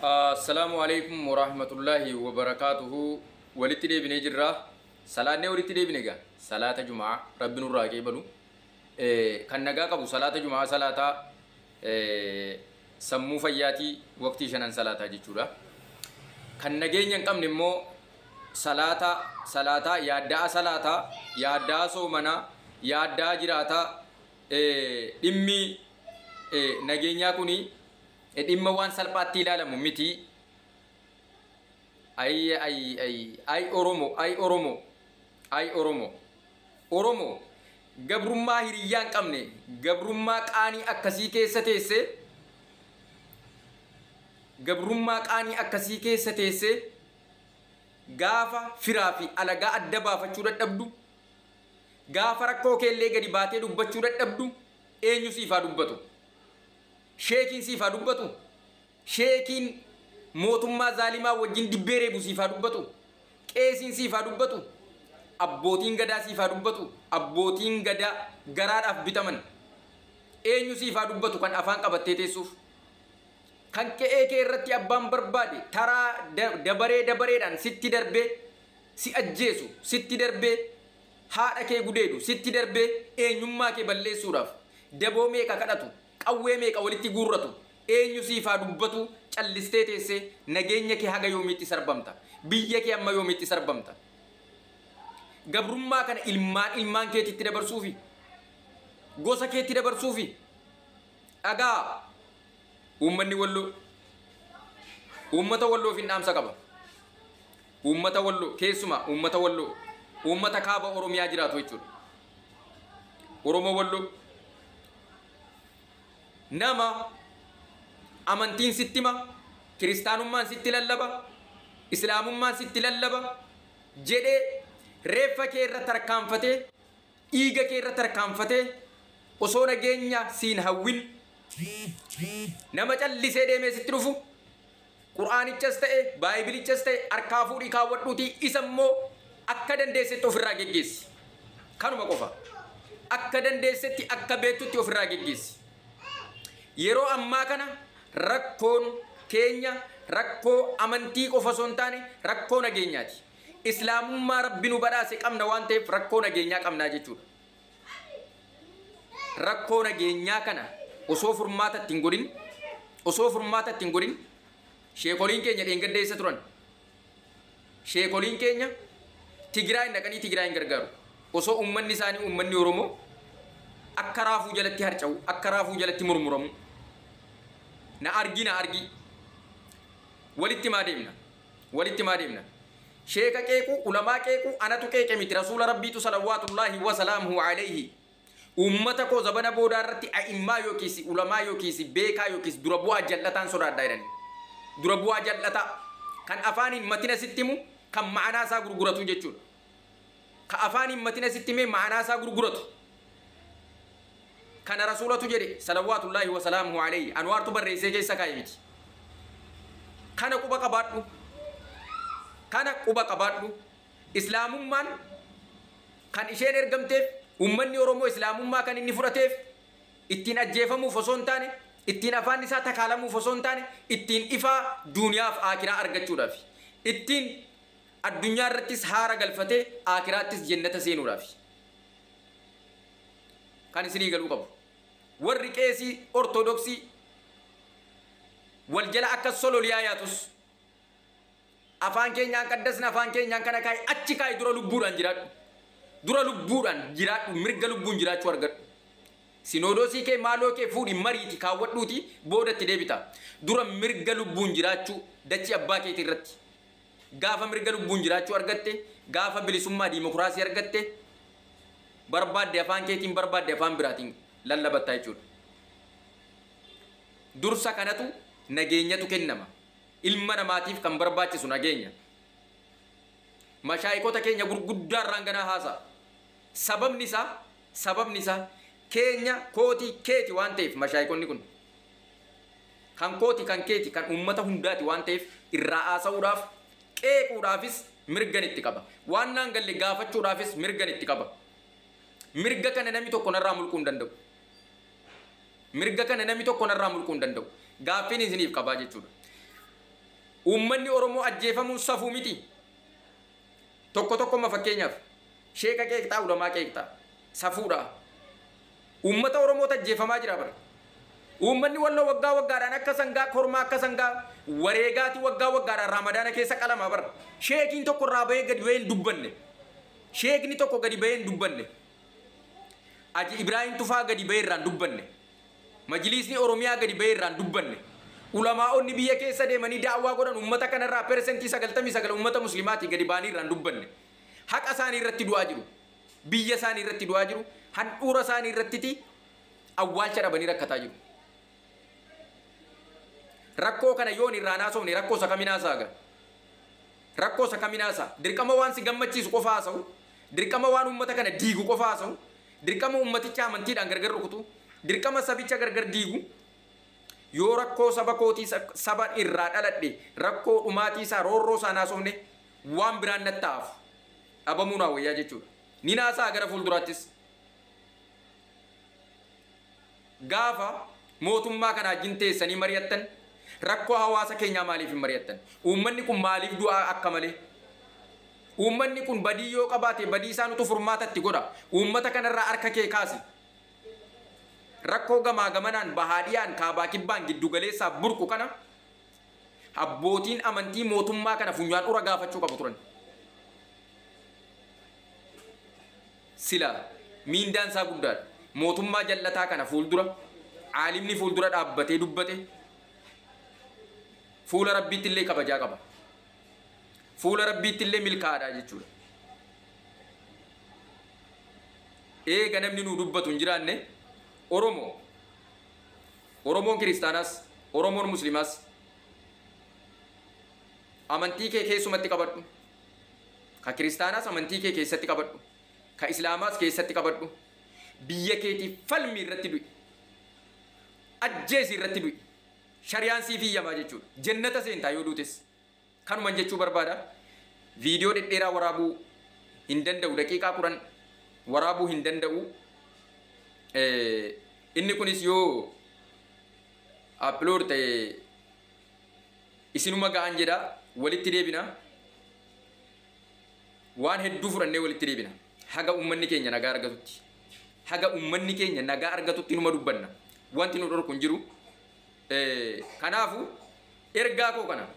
Assalaamu Aleykum Warahmatullaahi Wabarakaatuhu Walitti deebinee jirra Salaannee walitti deebine egaa Salaata Juma'aa Rabbi nurraa haa qeebalu Kan nagaa qabu Salaata Juma'aa salaataa Sammuu fayyaatii waqtii shanan salaataa jechuudha Kan nageenya hin qabne immoo Salaata salaataa yaadda'a salaataa yaadda'a soomanaa yaadda'a jiraataa Dhimmi nageenyaa kuni Dhimma waan salphaatti ilaalamu miti. Ayi ayi ayi ayi Oromo ayi Oromo ayi Oromo Oromo gabrummaa hiriyyaa hin qabne gabrummaa qaanii akkasii keessa teesse gabrummaa qaanii akkasii keessa teesse gaafa firaa fi alagaa adda baafachuu dadhabdu gaafa rakkoo keellee gadi baatee dubbachuu dadhabdu eenyu siif haa dubbatu. Sheekiin siif haa dubbatu Sheekiin mootummaa zaalimaa wajjin dibbee reebu siif haa dubbatu Qeesiin siif haa dubbatu Abbootiin gadaa siif haa dubbatu Abbootiin gadaa garaadhaaf bitaman Eenyu siif haa dubbatu kan afaan qabattee teessuuf Kan qe'ee kee irratti abbaan barbaade taraa dabaree dabareedhaan sitti darbee si ajjeesu sitti darbee haadha kee gudeedu sitti darbee eenyummaa kee balleessuudhaaf daboo meeqa kadhatu Qawwee meeqa walitti guurratu? Eenyu siif haa dubbatu callistee teessee? Nageenya kee haga yoomiitti sarbamta? Biyya kee amma yoomiitti sarbamta? Gabrummaa kana ilmaan ilmaan keetiitti dabarsuufi? Gosa keetti dabarsuufi? Dhaga'aa! Uummanni Walloo uummata Walloofin dhaamsa qaba. Uummata Walloo, keessumaa uummata Walloo, uummata Kaaba Oromiyaa jiraatu jechuudha. Oromoo Walloo. Nama amantiin sitti hima, kiristaanummaan sitti lallaba, islaamummaan sitti lallaba jedhee reeffa kee irra tarkaanfatee, dhiiga kee irra tarkaanfatee osoo nageenya siin hawwin nama callisee deemee sitti dhufu, Qur'aanichas ta'e, Baaybilichas ta'e harkaa fuudhii kaawwadhuutii isa immoo akka dandeessetti ofirraa geggeessi. Kanuma qofa. Akka dandeessetti, akka beektutti ofirraa geggeessi. Yeroo ammaa kana rakkoon keenya rakkoo amantii qofa osoo hin taane rakkoo nageenyaati. Islaamummaa Rabbi nu badhaase qabna waan ta'eef rakkoo nageenyaa qabna jechuudha. rakkoo nageenyaa kana osoo furmaata itti hin godhin osoo furmaata itti hin godhin sheekoliin keenya dheengadda eessa turan sheekoliin keenya Tigraay dhaqanii Tigraay hin gargaaru osoo uummanni isaanii uummanni Oromoo akka raafuu jalatti harca'u akka raafuu jalatti murmuramu na argi na argi walitti maa deemna Walitti maa deemna? Sheeka qeequu, ulamaa qeequu anatu qeeqe miti Rasuula Rabbiitu salawwaatullaahi wa salaamuhu aleyhi ummata koo zabana boodaa irratti a'immaa yookiis ulamaa yookiis beekaa yookiis dura bu'aa jal'ataan sodaadha jedhanii. Dura bu'aa jal'ataa. Kan afaaniin matina sitti himu, kan ma'anaa isaa gurguratu jechuudha. ka afaan hin matin asitti himee ma'anaa isaa gurguratu kana rasuulatu jedhe salawwaatullaahi wa salaamuhu alayhi anwaartu barreessee keessa kaa'e miti kana quba qabaadhu kana quba qabaadhu islaamummaan kan isheen ergamteef ummanni oromoo islaamummaa kan inni fudhateef ittiin ajjeefamuuf osoo hin taane ittiin afaan isaa takaalamuuf osoo hin taane ittiin ifaa duuniyaaf aakiraa argachuudhaaf ittiin Addunyaa irrattis haara galfatee Aakhiraattis Jennata seenuudhaafi. Kan isinii galuu qabu. Warri qeesii Ortodoksii wal jala akkas sololiyaa yaatus, Afaan keenyaan qaddasna, afaan keenyaan kana kaa'i, achi kaa'i dura lubbuudhaan jiraadhu. Dura lubbuudhaan jiraadhu, mirga lubbuun jiraachuu argadhu. Sinoodoosii kee, maaloo kee fuudhi, mariiti, kaawwadhuutii booda itti deebita. Dura mirga lubbuun jiraachuu dachii abbaa keetii irratti. Gaafa mirga lubbuun jiraachuu argatte, gaafa bilisummaa diimokiraasii argatte, barbaadde afaan keetiin, barbaadde afaan biraatiin lallabatta jechuudha. Dursa kanatu, nageenyatu kennama. Ilma namaatiif kan barbaachisu nageenya. Mashaayikota keenya gurguddaa irraan ganaa haasa'a. Sababni isaa, sababni isaa keenya, kooti, keeti waan ta'eef mashaayikonni kun. Kan kooti, kan keeti, kan uummata hundaati waan ta'eef irraa haasa'uudhaaf, qeequudhaafis mirgan itti qaba. Waan naan galle gaafachuudhaafis mirgan itti qaba. Mirga kana namni tokko narraa mulquu hin danda'u. Mirga kana namni tokko narraa mulquu hin danda'u. Gaaffiin isiniif qabaa jechuudha. Uummanni Oromoo ajjeefamuun safuu miti. Tokko tokko amma fakkeenyaaf sheeka qeeqxaa, ulamaa qeeqxaa. Safuudhaa? Uummata Oromootu ajjeefamaa jira bar. Uummanni Walloo waggaa waggaadhaan akka sangaa kormaa akka sangaa wareegaati waggaa waggaadhaan Raamadaana keessa qalama bar. Sheekiin tokko irraa bahee gadi bahee hin dubbanne. Sheekni tokko gadi bahee hin dubbanne. Aji Ibraahiim Tufaa gadi bahee irraa hin dubbanne. Majiliisni Oromiyaa gadi bahee irraa hin dubbanne. Ulamaa'onni biyya keessa deemanii da'awaa godhan uummata kanarraa persentii 99 uummata muslimaati gadi bahanii irraa hin dubbanne. Haqa isaanii irratti du'aa jiru. biyya isaani irratti du'aa jiru, handhuura isaani irrattiti awwaalcha dhabanii rakkataa jiru. Rakkoo kana yoon irraa hin haasofne rakkoo isa kamin haasa'a gaa? Rakkoo isa kamin haasa'a? Dirqama waan si gammachiisu qofa haasa'u? Dirqama waan uummata kana diigu qofa haasa'u? Dirqama uummaticha amantiidhaan gargar rukutu? Dirqama sabicha gargar diigu? Yoo rakkoo saba kootii saba irraa dhaladhe rakkoo dhumaatii isaa roorroo isaa hin haasofne waan biraan natti haa hafu. dhabamuu naa wayyaa jechuudha. Nin haasa'a gara fuulduraattis. Gaafa mootummaa kanaa wajjin teessanii mari'attan rakkoo hawaasa keenyaa maaliif hin mari'attan? Uummanni kun maaliif du'a akka malee? Uummanni kun badii yoo qabaate badii isaanutu furmaata itti godha. Uummata kanarraa harka kee kaasi. Rakkoo gamaa gamanaan bahaa dhiyaan kaabaa kibbaan giddu galeessaa burqu kana Abbootiin amantii mootummaa kana funyaan ura gaafachuu qabu turan. Silaa miindaan isaa guddaadha. Mootummaa jal'ataa kana fuuldura caalimni fuuldura dhaabbatee dubbate fuula rabbiitti illee kabajaa qaba. Fuula rabbiitti illee milkaa'aadha jechuudha. Eega namni nuu dubbatu hin jiraanne Oromoo Oromoon Kiristaanaas, Oromoon Muslimaas amantii kee keessumatti qabadhu, ka Kiristaanaas amantii kee keessatti qabadhu, ka Islaamaas keessatti qabadhu, biyya keetiif falmi irratti du'i, ajjeesi irratti du'i, shariyaan siif hiyyamaa jechuudha, jennata seentaa yoo duutes. Kanuman jechuu barbaada video dhedheeraa waraabuu hin danda'u daqiiqaa 10 waraabuu hin danda'u inni kunis yoo upload ta'e isinuma ga'an jedha walitti deebina waan hedduu fudhannee walitti deebina haga ummanni keenya nagaa argatutti haga ummanni keenya nagaa argatutti numa dubbanna wanti nu dhorku hin jiru Kanaafu ergaa koo kana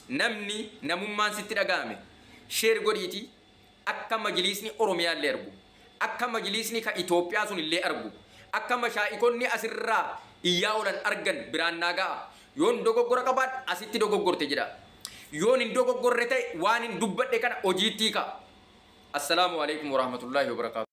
namni namummaan sitti dhagahame share godhiiti akka majiliisni Oromiyaa illee argu, akka majiliisni ka Itoophiyaa sun illee argu, akka mashaa'ikonni as irraa iyyaa oolan argan biraan naa ga'a. Yoon dogoggora qabaadhe asitti dogoggorte jedhaa. Yoon hin dogoggorre ta'e waanin dubbadhe kana hojiitti hiikaa. Assalaamu Aleykum Warahmatullahi Wabarakaatuh.